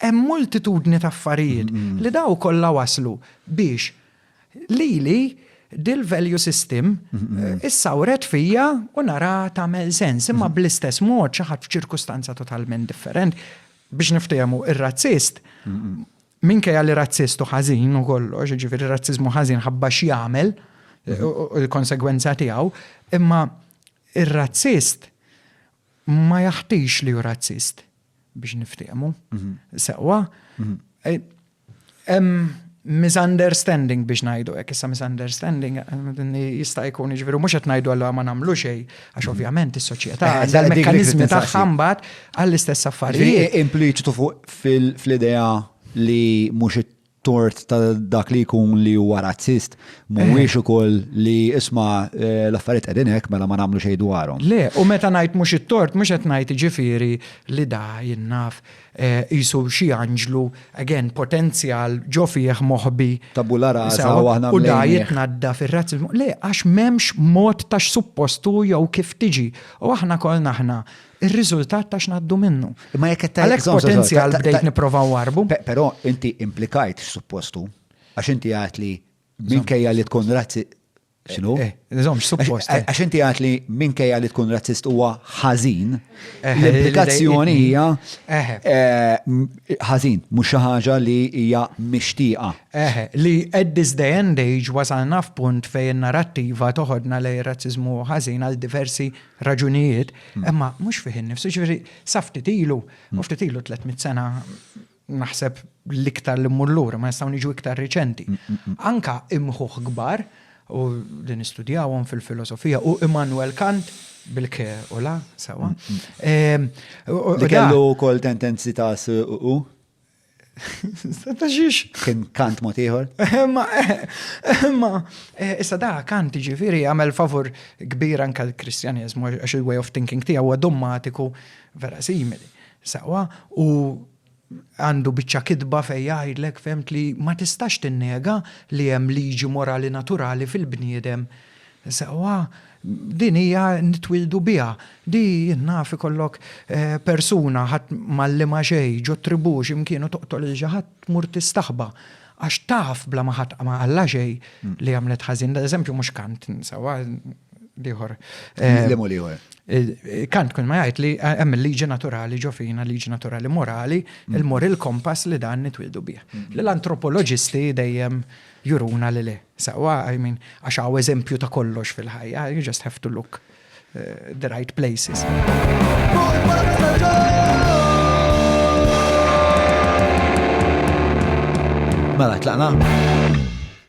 Hemm multitudni ta' affarijiet li daw kollha wasslu biex lili dil-value system issawret fija u naraha tagħmel sens. Imma bl-istess mod xi ħadd f'ċirkustanza totalment differenti, biex niftehmu, ir-razzist, minkejja li razzist u ħażin u kollox, jiġifieri r-razziżmu ħażin ħabba x'jagħmel u l-konsegwenza tiegħu, imma r-razzist ma jaħtix li hu razzist. biex niftiehmu. Mhm. Sewwa, mhm. eh, hemm misunderstanding biex ngħidu hekk issa misunderstanding eh, jista' jkun jiġifieri mhux qed ngħidu allura ma nagħmlu xejn għax mhm. ovvjament is-soċjetà eh, għandha l-mekkaniżmi tagħha mbagħad għall-istess affarijiet. Impliċitu fuq fil-idea li mhux tort ta' dak li jkun li huwa razzist mhuwiex ukoll li isma' l-affarijiet qegħdin hekk mela ma nagħmlu xejn dwarhom. Le, u meta ngħid mhux it-tort mhux qed ngħid jiġifieri li da jien naf qisu xi anġlu, again potenzjal ġo fih moħbi. Tabula rasa u aħna mlejnieh. U da jitnaddaf ir-razziżmu. Le, għax m'hemmx mod ta' x'suppost hu jew kif tiġi. U aħna kollna aħna ir-riżultat ta' x'ngħaddu minnu. Imma jekk qed Għalhekk potenzjal bdejt nipprova warbu. Però inti implikajt suppostu għax inti għad li minkejja li tkun razzi Xinu? Eh, Nizom, suppost. Eh. Għax inti għat li minkejja li tkun razzist huwa ħażin, eh, l-implikazzjoni hija ħażin, mhux xi ħaġa li hija mixtieqa. Li at this day and age wasalna f'punt fejn narrattiva toħodna lej razzizmu ħażin għal diversi raġunijiet, imma mhux fih innifsu, ġifieri sa ftit ilu, u ftit ilu 300 sena naħseb l-iktar li mmur lura, ma nistgħu niġu iktar riċenti. Anka imħuħ kbar u li nistudjawhom fil-filosofija u Immanuel Kant bil-ke u la, sawa. Li kellu kol tendenzi ta' u? Ta' xiex? Kien kant mod ieħor. Imma, imma, eh, issa da kant ġifiri għamel favur kbir anka l-Kristjanizmu, għax il-way of thinking tiegħu huwa dommatiku vera simili. Sawa, u għandu biċċa kitba fej jgħidlek femt li ma tistax tinnega li hemm liġi morali naturali fil-bniedem Sewwa, din hija nitwieldu biha. Di, jien naf, ikollok persuna, ħadd m'għallimha xejn, ġo tribù xi mkien u toqtol lil xi ħadd, tmur tistaħba. Għax taf, bla ma ħadd ma qallha xejn, li għamlet ħażin. L-eżempju mhux Kant, sewwa, l-ieħor. Liema l-ieħor? Kant kull ma jgħid li hemm il-liġi naturali ġo fina, liġi naturali morali, il-moral compass li dan nitwieldu bih. Li l-antropoloġisti dejjem juruna li le. Sewwa, I mean, għax hawn eżempju ta' kollox fil-ħajja, you just have to look eh, the right places. Mela, tlaqna?